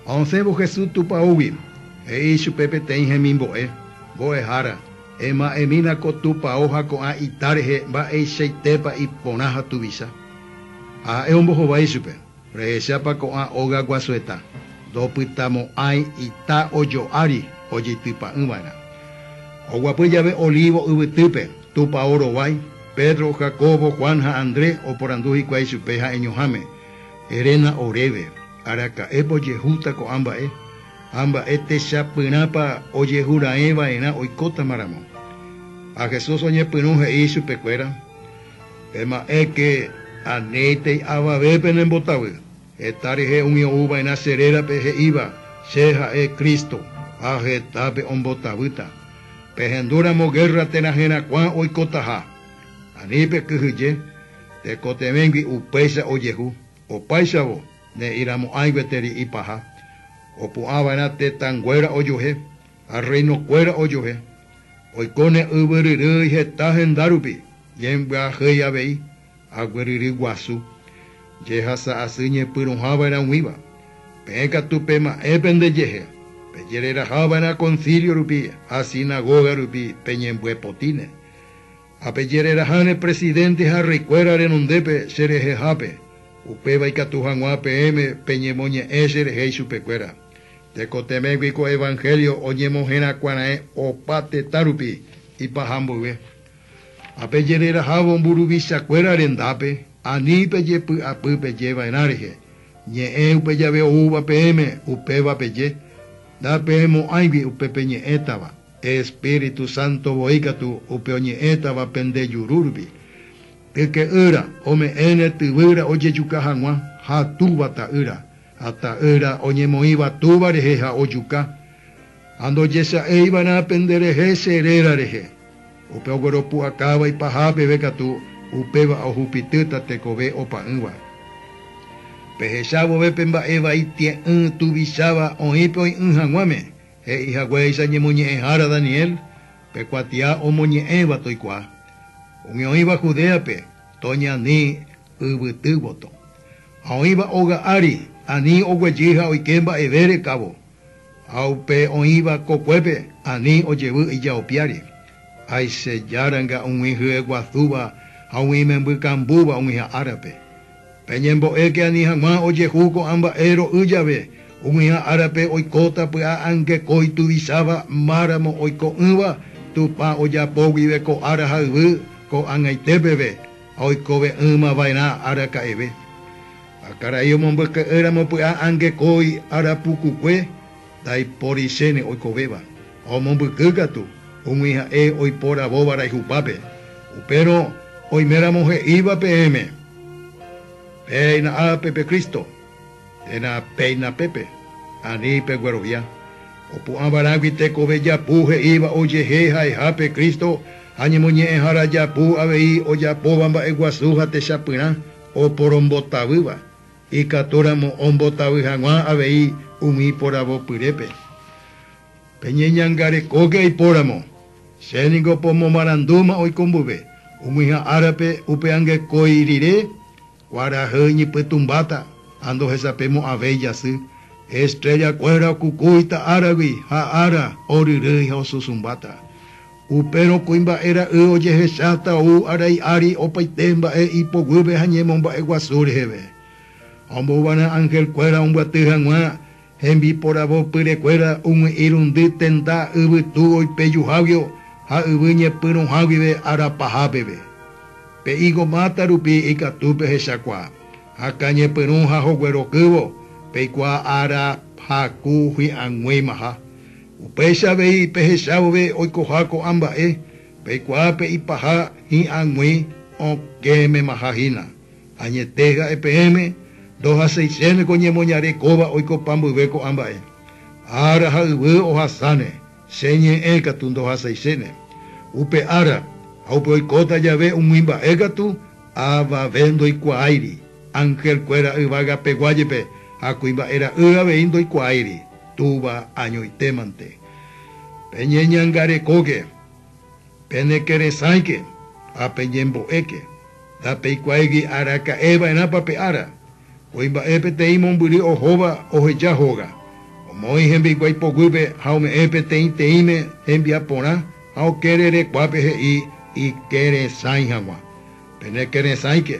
Ha osẽvo Jesús tupaógui, he'i ichupe peteĩ hemimbo'e, Mbo'ehára, ema'ẽmína ko tupao ha ko'ã ita rehe mba'eichaitépa iporã ha tuvicha. Ha ha'e ombohovái ichupe, Rehechápa ko'ã óga guasueta, ndopytamo'ãi ita ojo ári ojeitypa'ỹ va'erã. Ha oguapy jave Olivo yvytýpe, tupao rovái, Pedro, Jacobo, Juan ha Andrés oporandu hikuái ichupe ha'eñoháme, Eréna oréve, araka'épa ojehúta ko'ã mba'e, ha mba'e techapyrãpa ojehu raẽ va'erã oikótamaramo. Ha Jesús oñepyrũ he'i ichupekuéra, Ema'ẽke, aníntei avave pene mbotavy, heta rehe umi ou va'erã che rérape he'íva, Che ha'e Cristo, ha hetápe ombotavýta. Pehendúramo gérra térã herakuã oikotaha. Ani pekyhyje, tekotevẽgui upéicha ojehu, opáichavo ne'ĩramo'ãi gueteri ipaha, opu'ãva'erã tetãnguéra ojuehe ha rreinokuéra ojuehe, oiko ne yvyryrýi heta hendárupi, ñembyahýi avei agueryry guasu, jehasa asy ñepyrũhava'erãguĩva. Peẽ katu pema'ẽ pende jehe, pejererahava'erã Concílio rupi ha Sinagoga rupi peñembyepotĩne. Ha pejereraháne presidente ha reykuéra renondépe cherehehápe, upéva ikatu hag̃ua peẽme peñemoñe'ẽ cherehe ichupekuéra. Tekotevẽgui ko evangelio oñemoherakuãraẽ opa tetãrupi ipaha mboyve. Ha pejererahávo mburuvichakuéra rendápe, ani pejepy'apy pejeva'erã rehe, ñe'ẽ upe jave oúva peẽme, upéva peje, Ndapeẽmo'ãigui upe peñe'ẽtava. Espíritu Santo voi katu upe oñe'ẽtava pende jurúrvi. Yke'ýra ome'ẽne tyvýra ojejuka hag̃ua, ha túva ta'ýra, ha ta'ýra oñemoĩva túva rehe ha ojuka. Ha ndojesa'éi va'erã pende rehe che réra rehe. Upe ogueropu'akáva ipaha peve katu, upéva ohupitýta tekove opa'ỹva. Pehecha vove pe mba'e vai tie'ỹ tuvicháva oĩ pe oĩ'ỹ hag̃uáme, He'i haguéicha ñemoñe'ẽhára Daniel, Pe kuatia omoñe'ẽva toikuaa, umi oĩva Judéape toña ani yvyty voto, ha oĩva óga ári ani oguejy ha oike mba'eve rekávo, ha upe oĩva kokuépe ani ojevy ijao piári, aichejáranga umi hyeguasúva ha umi imemby kambúva oĩha árape. Peñembo'éke ani hag̃ua ojehu ko'ã mba'e ro'y jave, ug̃uiã árape oikóta py'a'angeko ituvisáva máramo oiko'ỹva Tupã ojapo guive ko ára ha yvy ko'ag̃aite peve ha oikove'ỹma va'erã araka'eve. Ha karai omombyke'ýramo py'a'angekói arapukukue, Ndaipóri chéne oikovéva, ha omombyky katu, umi ha'e oiporavóva rayhupápe. Upérõ oiméramo he'íva peẽme, Péina ápe pe Cristo, térã péina pépe, ani peguerovia. Opu'ãvarãgui tekove japu he'íva ojehe ha'eha pe Cristo ha ñemoñe'ẽhára japu avei ojapóva mba'eguasu ha techapyrã oporombotavýva. Ikatúramo ombotavy hag̃ua avei umi iporavopyrépe. Peñeñangarekóke aipóramo, che ningo pomomarandúma oiko mbuve, ug̃uiha árape upe angekói rire, kuarahy iñypytũmbáta ha ndohesapemo'ãvéi jasy, estréllakuéra okukúita áragui ha ára oryrýi ha osusumbáta. Upérõ kuimba'e ra'y ojehecháta ou arai ári opaite mba'e ipoguýpe ha ñemomba'e guasu reheve. Ombouvarã ángel kuéra ombyaty hag̃ua hembiporavo pyre kuéra umi irundy tenda yvytu oipejuháguio ha yvy ñepyrũha guive ára paha peve. Pe higo máta rupi ikatu pehechakuaa, akã ñepyrũ ha hoguerokývo, peikuaa ára haku hi'ag̃uimaha. Upéicha avei pehecha vove oikoha ko'ã mba'e, peikuaa pe ipaha hi'ag̃ui okẽmemaha hína. Añete ha'e peẽme, ndohaseichéne ko ñemoñare kóva oiko pambyve ko'ã mba'e. Ára ha yvy ohasáne, che ñe'ẽ katu ndohaseichéne. Upe ára ha upe oikóta jave umi mba'e katu, Avave ndoikuaáiri, angelkuéra yvagapegua jepe ha kuimba'e ra'y avei ndoikuaáiri, Túva añoitémante. Peñeñangarekóke, penekerẽsãike ha peñembo'éke. Ndapeikuaáigui araka'eva'erãpa pe ára, Voi mba'e peteĩ mombyry ohóva oheja hóga, omoĩ hembiaikuái poguýpe ha ome'ẽ peteĩteĩme hembiaporã ha okere rekuápe he'i ikerẽsãi hag̃ua. Pene kerẽsãike,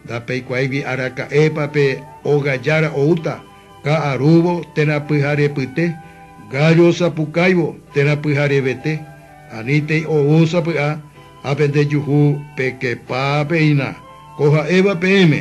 ndapeikuáigui araka'épa pe óga jára oúta, ka'arúvo térã pyharepyte, gállo osapukáivo térã pyharevete, anítei ou sapy'a ha pende juhu pekepápeina, ko ha'éva peẽme.